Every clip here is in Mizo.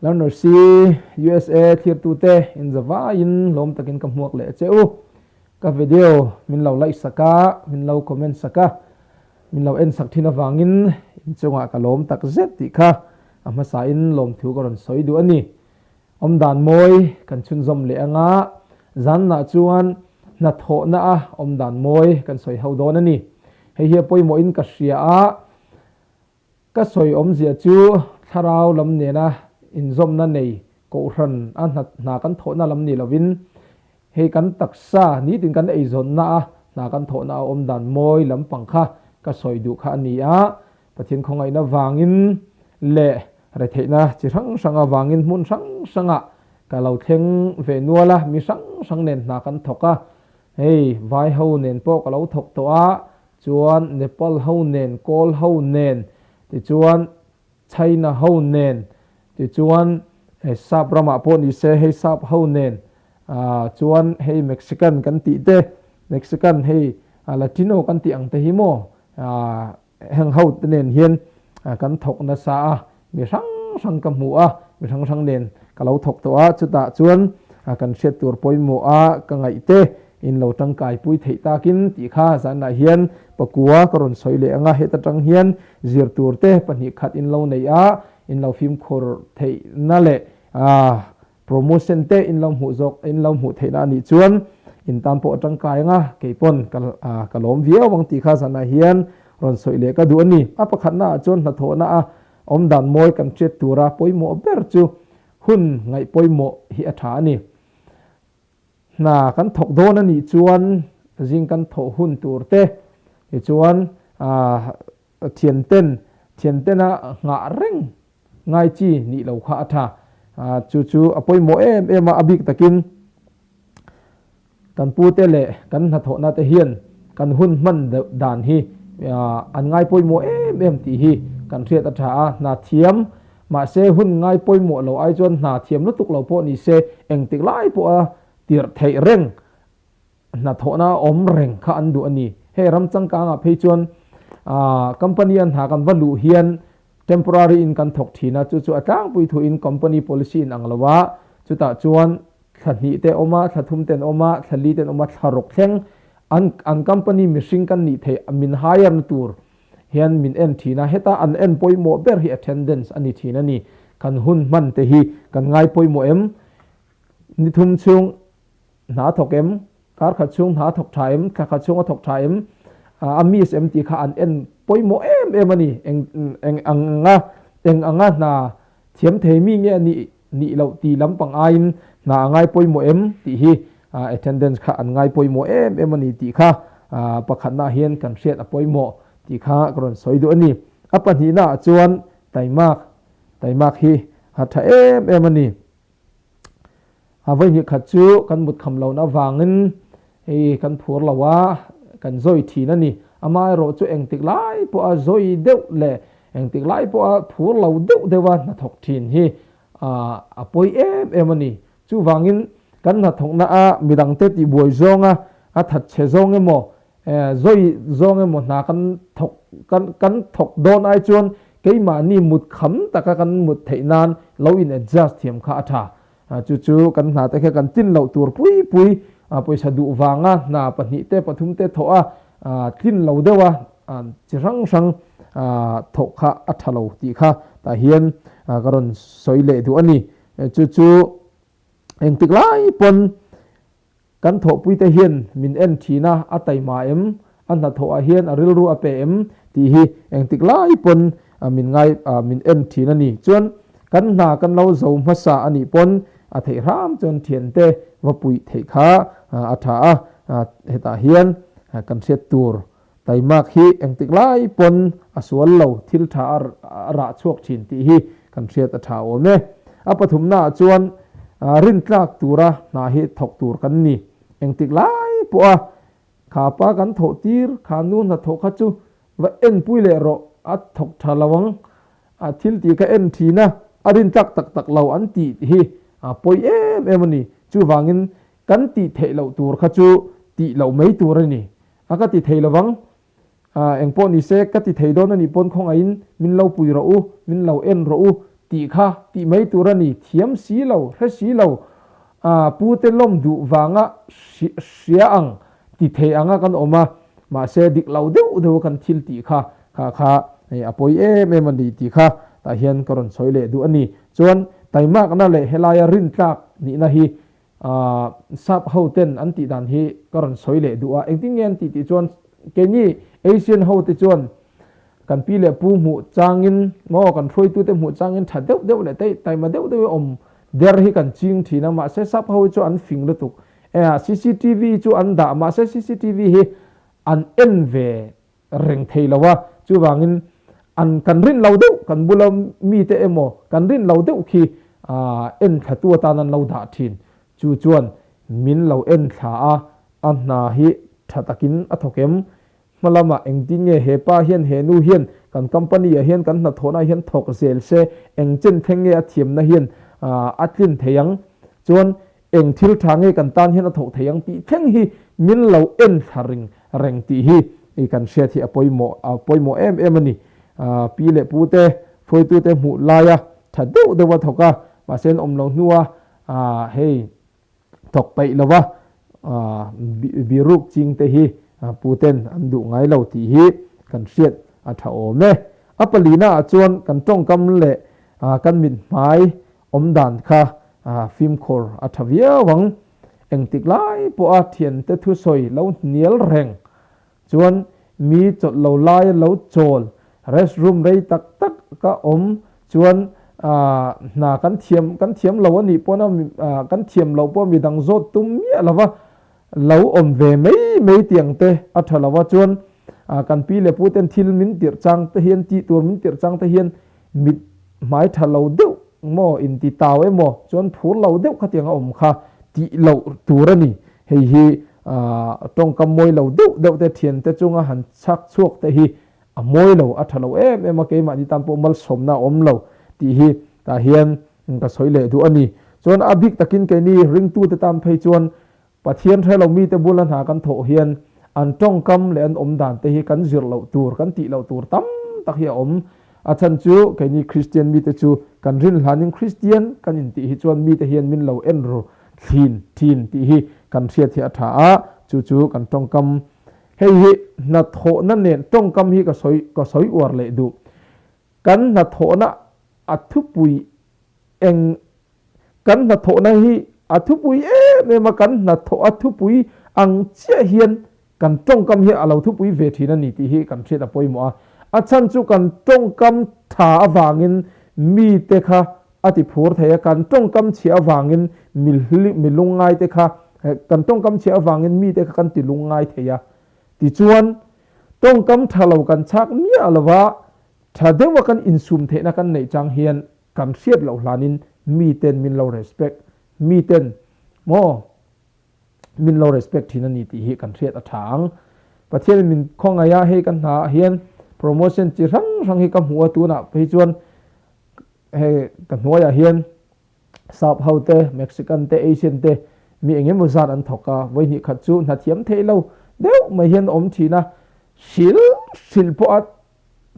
Learner C, usa thirtute inza vaiin lawm takin ka hmuak leh che u. Ka video min lo like sak a, min lo comment sak a, min lo en sak thin avangin in chungah ka lawm tak zet tih kha a hmasain lawmthu ka rawn sawi duh a ni. Awmdan mawi kan chhunzawm leh anga zanna chuan hnathawhna a awmdan mawi kan sawi ho dawn a ni. Hei hi a pawimawhin ka hria a. Ka sawi awmzia chu thlarau lam nena inzawmna nei kohhran a hna hna kan thawhna lam ni lovin hei kan taksa nitin kan eizawnna a hna kan thawhna a awm dan mawi lampang kha ka sawi duh kha a ni a. Pathian khawngaihna vangin leh retheihna chi hrang hrang avangin hmun hrang hrangah ka lo thleng ve nual a, mi hrang hrang nen hna kan thawk a, hei vaiho nen pawh ka lo thawk tawh a, chuan Nepal ho nen, Kawl ho nen, tichuan China ho nen, tichuan hei Sap ramah pawh ni se hei Sap ho nen, aah chuan hei Mexican kan tih te, Mexican hei Latino kan tih ang te hi maw, aah heng ho te nen hian kan thawk nasa a, Mi hrang hrang ka hmu a, mi hrang hrang nen ka lo thawk tawh a, chutah chuan kan hriat tur pawimawh a ka ngaih te in lo tangkai pui theih tak in tih kha zanah hian pakua ka rawn sawi leh ang a, heta tang hian zir tur te pahnih khat in lo neih a, in lo fimkhur theihna leh a. Promotion te in lo hmuh zawk, in lo hmuh theihna a nih chuan in tan pawh a tangkai ang a, kei pawn ka lawm viau ang tih kha zanah hian rawn sawi leh ka duh a ni. A pakhatnaah chuan hnathawhna a awmdan mawi kan hriat tura pawimawh ber chu hun ngaih pawimawh hi a tha a ni. Hna kan thawk dawn a nih chuan zing kan thawh hun tur te hi chuan thianten, thiantena nghah reng Ngai chi nih lo kha a tha. Chu chu a pawimawh em em a, a bik takin kan pu te leh kan hnathawhna te hian kan hun hman deuh dan hi an ngai pawimawh em em tih hi kan hriat a tha a, hna thiam. Mahse hun ngai pawimawh lo ai chuan hna thiam lutuk lo pawh ni se engtik lai pawha tirh theih reng. Hnathawhna awm reng kha an duh a ni. Hei ram changkangah phei chuan company an hna kan va luh hian temporary in kan thawk thin a, chu chu a tlangpui thuin company policy in ang lo a, chutah chuan thla hnih te awm a, thla thum ten awm a, thla li ten awm a, thla rawk thleng an an company mihring kan nih theih min hire na tur hian min en thin a, heta an en pawimawh ber hi attendance a ni thin a ni. Kan hun hman te hi kan ngai pawimawh em? Ni thum chhung. Hna thawk em? Kar khat chhung hna thawk tha em? Thla khat chhung a thawk tha em? A miss em tih kha an en pawimawh em em a ni. Eng eng ang anga, eng anga hna thiam thei mi nge a nih nih loh tih lam pang aiin hna a ngai pawimawh em? tih hi attendance kha an ngai pawimawh em em a ni tih kha pakhatna ah hian kan hriat a pawimawh tih kha ka rawn sawi duh a ni. A pahnihna ah chuan Taimak, Taimak hi a tha em em a ni. A vawinih khat chu kan mutkham lo'n avangin hei kan phur lo a, kan zawi thin a ni. Amah erawh chu engtik lai pawha zawi deuh leh engtik lai pawha phur lo deuh deuha hnathawk thin hi a pawi em em a ni. Chuvangin kan hnathawkna a midangte tihbuai zawnga, a thatchhe zawng emaw, zawi zawng emaw hna kan thawk, kan thawk dawn ai chuan keimahni mutkham taka kan mut theih nan lo in adjust thiam kha a tha. Chu chu kan hna te kha kan tlin loh tur pui pui pawisa duh vanga hna pahnih te pathum te thawh a tlin lo deuh a chi hrang hrang thawh kha a tha lo tih kha tah hian ka rawn sawi leh duh a ni. Chu chu engtik lai pawn Kan thawhpuite hian min en thin a, a tai mah em? A hnathawhah hian a rilru a pe em? Tih hi engtik lai pawn min ngai, min en thin a ni. Chuan kan hna kan lo zo hmasa a nih pawn a theih hram chuan thiante va puih theih kha a tha a, hetah hian kan hriat tur Taimak hi engtik lai pawn a sual lo thil tha a rah chhuak thin tih hi kan hriat a tha awm e. A pathumnaah chuan rintlak tura hna hi thawk tur kan ni. Engtik lai pawha kha pa kan thawh tir kha nu hna thawh kha chu va en pui leh rawh, a thawk tha lo ang, thil tih ka en thin a, a rintlak tak tak lo an tih hi pawi em em a ni. Chuvangin kan tih theih loh tur kha chu tih loh mai tur a ni. A ka ti thei lovang. Ahh, eng pawh nise, ka ti thei dawn a nih pawn khawngahin min lo pui rawh u, min lo en rawh u tih kha tih mai tur a ni. Thiam si lo, hre si lo, ahh, pu te lawm duh vanga hria ang ti thei anga kan awm a, mahse dik lo deuh deuh a kan thil tih kha kha kha hei a pawi em em a ni tih kha tah hian ka rawn sawi leh duh a ni. Chuan taimakna leh helaia rintlak nihna hi Sap hoten an tih dan hi ka rawn sawi leh duh a, engtin nge an tih tih chuan keini Asian hote chuan kan pi leh pu hmuh changin maw kan hruaitute hmuh changin tha deuh deuh leh taih taima deuh deuhin awm der hi kan ching thin a, mahse Sap ho hi chu an fing lutuk. Cctv chu an dah mahse cctv hi an en ve. reng thei lo a, chuvangin an kan rin lo deuh kan bula mite emaw kan rin lo deuh khi en thlatu atan an lo dah thin, chu chuan min lo en thla a, a hna hi tha takin a thawk em? Hmalamah engtin nge he pa hian he nu hian kan company ah hian kan hnathawhna hian thawk zel se, engchen thleng nge a thiamna hian a tlin thei ang? Chuan Eng thil tha nge kan tan hian a thawh thei ang tih thleng hi min lo en thla ring reng tih hi i kan hriat hi a pawimawh a pawimawh em em a ni. Pi leh pu te, fawitu te hmuh laia tha deuh deuh a thawk a, mahse an awm lo hnua hei thawk peih lova biruk ching te hi pu ten an duh ngai lo tih hi kan hriat a tha awm e. A palinaah chuan kan tawngkam leh kan mithmai Awmdan kha fimkhur a tha viau ang. Engtik lai pawha thiante thu sawi lo hnial reng. Chuan mi chawlh lo lai a lo chawl. Rest room rei tak tak ka awm chuan hna kan thiam kan thiam lo a nih pawna kan thiam loh pawh midang zawt tum miah lova Lo awm ve mai mai tiang te a tha lo a, chuan kan pi leh pu ten thil min tirh chang te hian, tih tur min tirh chang te hian mit hmai tha lo deuh maw, inti tau emaw, chuan phur lo deuh khatiang a awm kha tih loh tur a ni. Hei hi tawngkam mawi lo deuh deuh te thian te chunga han chhak chhuak te hi a mawi lo, a tha lo em em a, keimahni tan pawh malsawmna a awm lo tih hi tah hian Eng ka sawi leh duh a ni. Chuan a bik takin keini ringtute tan phei chuan Pathian hrelo mite bula hna kan thawh hian an tawngkam leh an awmdan te hi kan zir loh tur, kan tih loh tur tam tak hi a awm. A chhan chu keini Kristian mite chu kan rin hlanin Kristian kan intih hi chuan mite hian min lo en ru thlin thin tih hi kan hriat hi a tha a, chu chu kan tawngkam hei hi hnathawhna nen tawngkam hi ka sawi ka sawi uar leh duh. Kan hnathawhna a thupui eng Kan hnathawhna hi a thupui em em a, kan hnathawh a thupui ang chiah hian kan tawngkam hi a lo thupui ve thin a ni tih hi kan hriat a pawimawh a. A chhan chu kan tawngkam tha avangin mite kha a ti phur thei a, kan tawngkam chhia avangin mi lungngaite kha kan tawngkam chhia avangin mite kha kan ti lungngai thei a. Tichuan, tawngkam tha lo kan chak miah lova tha deuha kan insum theihna kan neih chang hian kan hriat loh hlanin miten min lo respect, miten maw min lo respect thin a ni tih hi kan hriat a tha ang. Pathianin min khawngaih a, hei ka hnaah hian promotion chi hrang hrang hi ka hmu a tunah phei chuan hei ka hnuaiah hian Sap hote, Mexican te, Asian te, mi eng emaw zat an thawk a, vawinih khat chu hnathiam theih lo deuh mai hian a awm thin a, hril hril pawha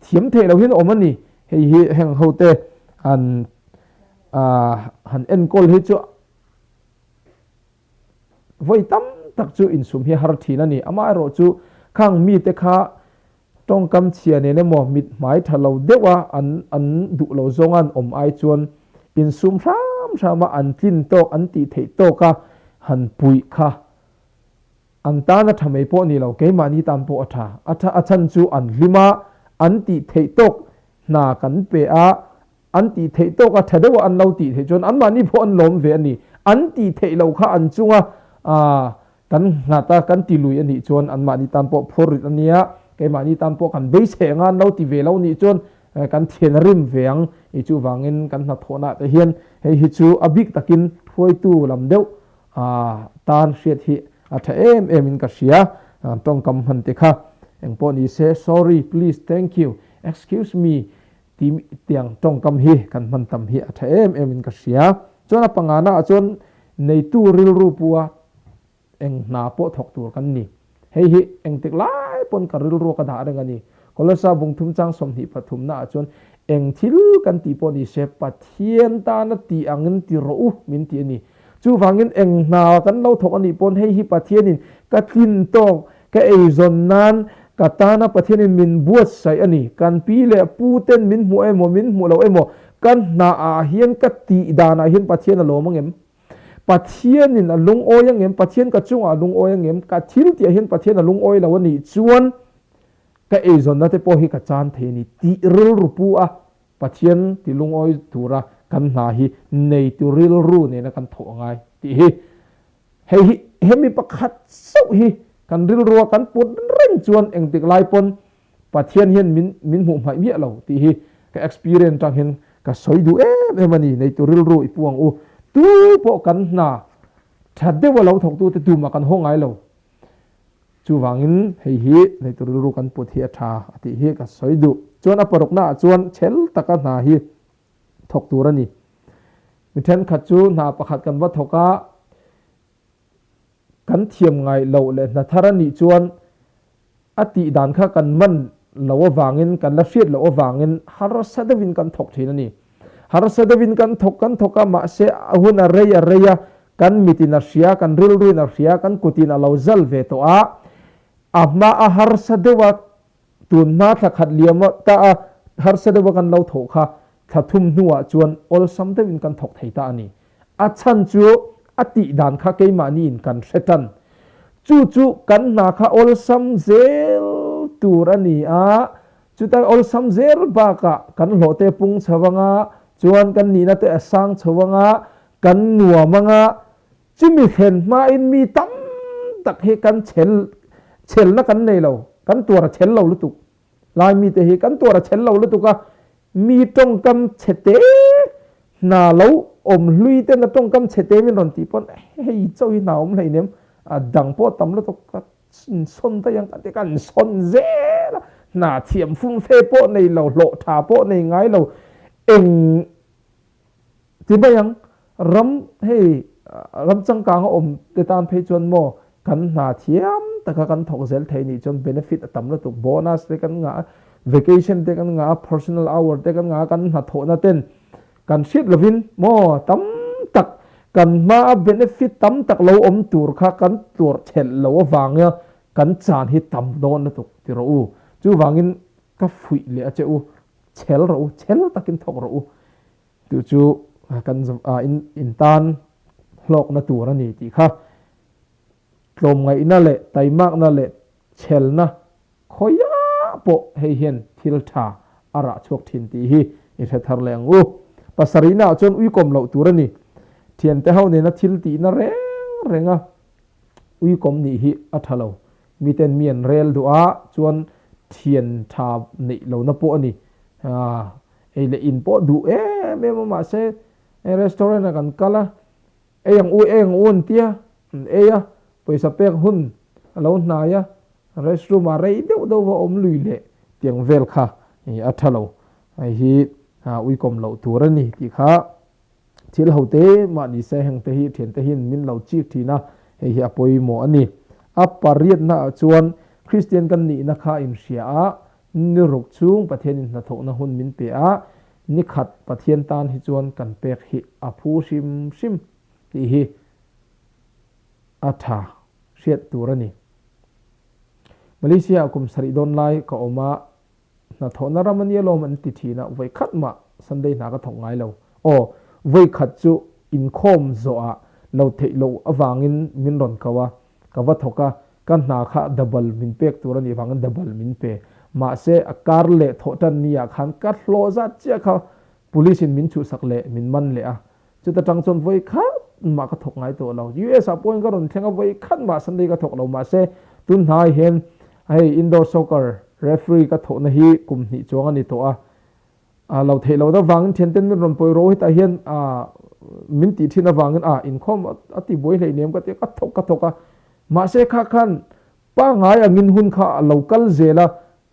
thiam theih lo hian a awm a ni. Hei hi heng hote han han enkawl hi chu vawi tam tak chu insum hi a har thin a ni. Amaherawhchu khang mite kha Tawngkam chhia nen emaw mit hmai tha lo deuha an an duh lo zawnga an awm ai chuan insum hram hrama an tlin tawk an tih theih tawk a, han puih kha an tan a tha mai pawh ni lo, keimahni tan pawh a tha a tha a chhan chu an hlim a, an tih theih tawk hna kan pe a, an tih theih tawk a, tha deuha an lo tih theih chuan anmahni pawh an lawm ve a ni. An tih theih loh kha an chunga kan nghat a, kan ti lui a nih chuan anmahni tan pawh phur rit a nia, keimahni tan pawh kan beisei anga an lo ti ve lo nih chuan kan thian rim ve ang. I chu vangin kan hnathawhnah te hian hei hi chu a bik takin hruaitu lam deuh tan hriat hi a tha em em in ka hria, tawngkam hman te kha engpawh nise, sorry, please, thank you, excuse me, Timi tiang tawngkam hi kan hman tam hi a tha em em in ka hria. Chuan a pangana ah chuan neitu rilru pua eng hna pawh thawk tur kan ni. Hei hi engtik lai pawn ka rilru ka dah reng a ni. Kolosea bung thumchang sawmhnih pathumna ah chuan eng thil kan tih pawh ni se Pathian tan a tih ang in ti rawh u min ti a ni. Chuvangin eng hna kan lo thawk a nih pawn hei hi Pathian in ka tlin tawk Ka ei zawn nan ka tana Pathianin min buatsaih a ni. Kan pi leh pu ten min hmuh emaw min hmuh loh emaw kan hna ah hian ka tih dan ah hian Pathian a lawm angem? Pathianin a lungawi angem? Pathian ka chungah a lungawi angem? Ka thil tih ah hian Pathian a lungawi lo a nih chuan ka ei zawn na te pawh hi ka chan thei a ni tih rilru pu a Pathian tih lungawi tura kan hna hi nei tur rilru nena kan thawh a ngai tih hi Hei hi, he mi pakhat zauh hi kan rilrua kan put reng chuan engtik lai pawn Pathian hian min min hmuh hmaih miah lo tih hi ka experience tangin ka sawi duh em em a ni. Neitu rilru i puang u, tu pawh kan hna tha deuh a lo thawktute tumah kan haw ngai lo. Chuvangin hei hi neitu rilru kan put hi a tha a tih hi ka sawi duh. Chuan a paruknaah chuan chhel taka hna hi. thawk tur a ni. Mi thenkhat chu hna pakhat kan va thawk a, kan thiam ngai loh leh hna thar a nih chuan a tih dan kha kan man loh avangin, kan la hriat loh avangin harsa deuhin kan thawk thin a ni. Harsa deuhin kan thawk kan thawk a, mahse a hun a rei a rei a, kan mitin a hria, kan rilruin a hria, kan kutin a lo zal ve tawh a, a hma a harsa deuha Tun hma thla khat liam a tah a, harsa deuh a kan lo thawh kha thla thum hnuah chuan awlsam deuhin kan thawk thei ta a ni. A chhan chu a tih dan kha keimahniin kan hre tan. Chu chu kan hna kha awlsam zel tur a ni a, chuta awlsam zel bakah kan hlawhte pung chho anga chuan kan nihnate a sang chho anga kan nuam anga Chumi thlen hmain mi tam tak hi kan chhel chhelna kan nei lo, kan tuar a chhel lo lutuk. Lai mite hi kan tuar a chhel lo lutuk a, mi tawngkam chhete hna lo awm hlui te na tawngkam chhete min rawn tih pawn hei chau hi hna awm hleinem a dang pawh tam lutuk ka sawn daih ang ka ti kan sawn zel a, hna thiam fum fe pawh nei lo, hlawh tha pawh nei ngai lo, eng Ti mai ang, ram hei ram changkanga awm te tan phei chuan maw kan hna thiam taka kan thawk zel thei nih chuan benefit a tam lutuk, bonus te kan ngah a, vacation te kan ngah a, personal hour te kan ngah a, kan hna thawhna ten kan hriat lovin maw tam tak kan hmaa benefit tam tak lo awm tur kha kan tlawrh thelh lo avanga kan chan hi tam dawn lutuk ti rawh u, chuvangin ka fuih leh a che u. Chhel rawh u, chhel takin thawk rawh u. Tih chu kan zava in intan hlawkna tur a ni tih kha tlawmngaihna leh taimakna leh chhelna khawia pawh hei hian thil tha a rah chhuak thin tih hi i hre thar leh ang u. Pasarihnaah chuan uikawm loh tur a ni. Thiante ho nena thil tihna reng renga uikawm nih hi a tha lo. Miten mi an rel duh a, chuan thian tha neih lo na pawh a ni. Ei leh in pawh duh em em a, mahse hei restaurant ah kan kal a, ei ang u, ei ang u an tia, an ei a, pawisa pek hun a lo hnai a, restroom ah rei deuh deuh va awm lui leh tiang vel kha a tha lo. Hei hi uikawm loh tur a ni tih kha Thil hote mah ni se hengte hi thiante hian min lo chik thin a, hei hi a pawimawh a ni. A pariatna ah chuan Kristian kan nihna kha inhria a, ni ruk chhung Pathian inhnathawhna hun min pe a, ni khat Pathian tan hi chuan kan pek hi a phu hrim hrim tih hi a tha hriat tur a ni. Malaysia ah kum sarih dawn lai ka awm a, Hnathawhna ram a nia lawm an ti thin a, vawi khat mah Sunday hna ka thawk ngai lo. Aw, vawi khat chu inkhawm zawh ah lo theih loh avangin min rawn ko a, ka va thawk a, ka hna kha dabal min pek tur anih avangin dabal min pe. Mahse a kar leh thawh tan ni ah khan ka hlawh zat chiah kha, Police in min chuhsak leh min man leh a. Chuta tang chuan vawi khat mah ka thawk ngai tawh lo. US ah pawhin ka rawn thleng a, vawi khat mah Sunday ka thawk lo mahse, tun hnai hian hei indoor soccer referee ka thawhna hi kum hnih chuang a ni tawh a. A lo theih lo deuh vangin thianten min rawn pawi ro hetah hian min tih thin avangin a inkhawm a ti buai hleinem ka tia, ka thawk ka thawk a. Mahse kha khan pangngai angin hun kha a lo kal zel a,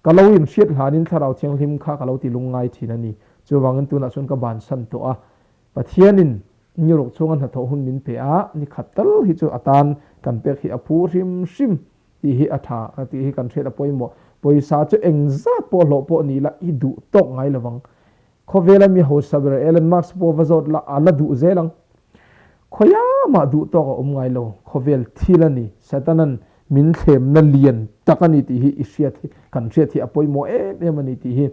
Ka lo inhriat hlanin Thlarau Thianghlim kha ka lo ti lungngai thin a ni. Chuvangin tunah chuan ka ban san tawh a. Pathianin ni ruk chhunga hnathawh hun min pe a, ni khat tal hi chu a tan kan pek hi a phu hrim hrim tih hi a tha tih hi kan hriat a pawimawh. Pawisa chu engzat pawh a hlawh pawh ni ila i duh tawk ngai lovang. Khawvela mi hausa ber Elon Musk pawh va zawt la, a la duh zel ang. Khawia mah duh tawk a awm ngai lo, khawvel thil a ni, Satanan min thlemna lian tak a ni tih hi i hriat hi, kan hriat hi a pawimawh em em a ni tih hi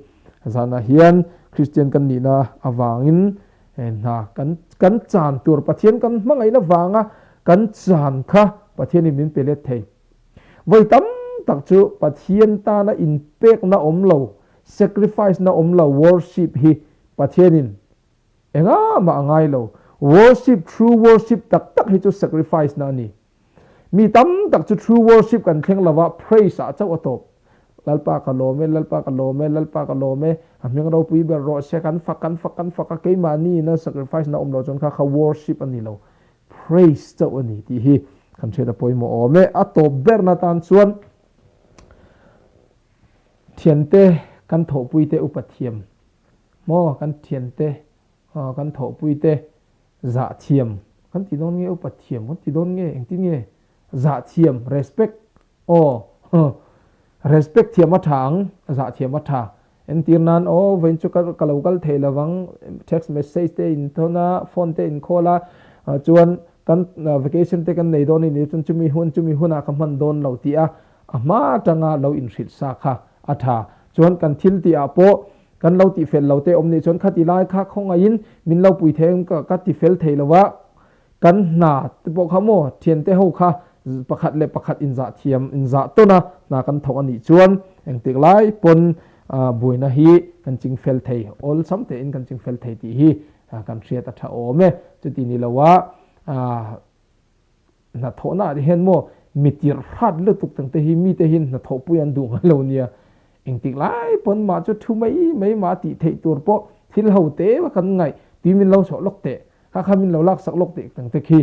zanah hian Kristian kan nihna avangin hna kan kan chan tur Pathian kan hmangaihna vanga kan chan kha Pathianin min pe let thei. Vawi tam tak chu Pathian tana inpekna awm lo, sacrifice na awm lo worship hi Pathianin enga mah a ngai lo. Worship, true worship tak tak hi chu sacrifice na a ni. Mi tam tak chu true worship kan thleng lo va, praise ah chauh a tawp. Lalpa ka lawm e, Lalpa ka lawm e, Lalpa ka lawm e, a hming ropui ber rawh se, kan fak, kan fak, kan fak a, keimah ni ina sacrifice na awm lo chuan kha kha worship a ni lo. Praise chauh a ni tih hi kan hriat a pawimawh awm e. A tawp berna tan chuan thiante kan thawhpuite upa thiam maw, kan thiante aw kan thawhpuite zah thiam kan ti dawn nge upa thiam kan ti dawn nge engtin nge? Zah thiam, respect, aw, huh, respect thiam a tha ang, zah thiam a tha. Entir nan, aw, vawiin chu ka ka lo kal thei lo vang, text message te a in thawn a, phone te a in call a, chuan kan vacation te kan nei dawn anih loh chuan chumi hun chumi hunah ka hman dawn lo tih a, a hma tanga lo in hrilh sa kha a tha. Chuan kan thil tih ah pawh kan lo tih fel lo te awm nih chuan khati lai kha khawngaih in min lo pui thei ang ka ti fel thei lo a, Kan hna te pawh kha maw thiante ho kha pakhat leh pakhat inzah thiam, inzah tawnna hna kan thawh a nih chuan engtik lai pawn buaina hi kan chingfel thei, awlsam tein kan chingfel thei tih hi kan hriat a tha awm e. Chuti ni lo a, hnathawhnaah te hian maw mi tirhhrat lutuk tak te hi mite hian hnathawhpui an duh ngei lo nia, engtik lai pawn mah chu thu mai mai mah tih theih tur pawh thil ho te emaw kan ngaih tui min lo chawh lawk teh Ka kha min lo laksak lawk teh ang te khi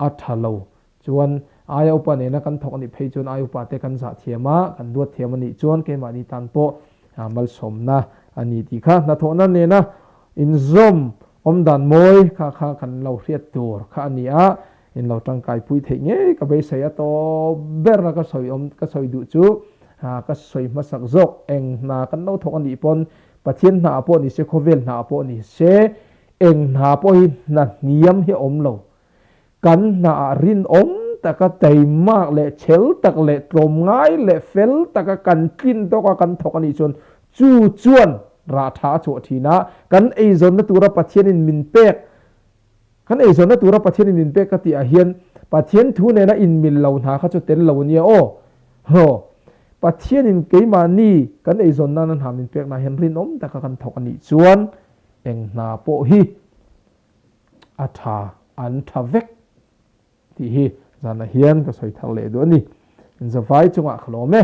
a tha lo. Chuan aia upa nena kan thawk a nih phei chuan ai upa te kan zah thiam a, kan duat thiam a nih chuan keimahni tan pawh malsawmna a ni tih kha hnathawhna nena inzawm awm dan mawi kha kha kan lo hriat tur kha a ni a, in lo tangkai pui theih ngei ka beisei a taw ber a ka sawi awm ka sawi duh chu ka sawi hmasak zawk eng hna kan lo thawk a nih pawn Pathian hna ah pawh ni se khawvel hna ah pawh ni se Eng hna pawh hi hna hniam hi a awm lo. Kan hna ah rinawm taka tei mak leh chhel tak leh tlawm ngai leh fel taka kan tlin tawk a kan thawk a nih chuan chu chuan rah tha a chawh thin a. Kan eizawnna tura Pathianin min pek Kan eizawnna tura Pathianin min pek ka tih ah hian Pathian thu nena inmil lo hna kha chu tel lo ania aw. Haw. Pathianin keimahni kan eizawnna na hna min pekna ah hian rinawm taka kan thawk a nih chuan, Eng hna pawh hi a tha an tha vek tih hi zanah hian ka sawi thar leh duh a ni. Zavai chungah ka lawm e.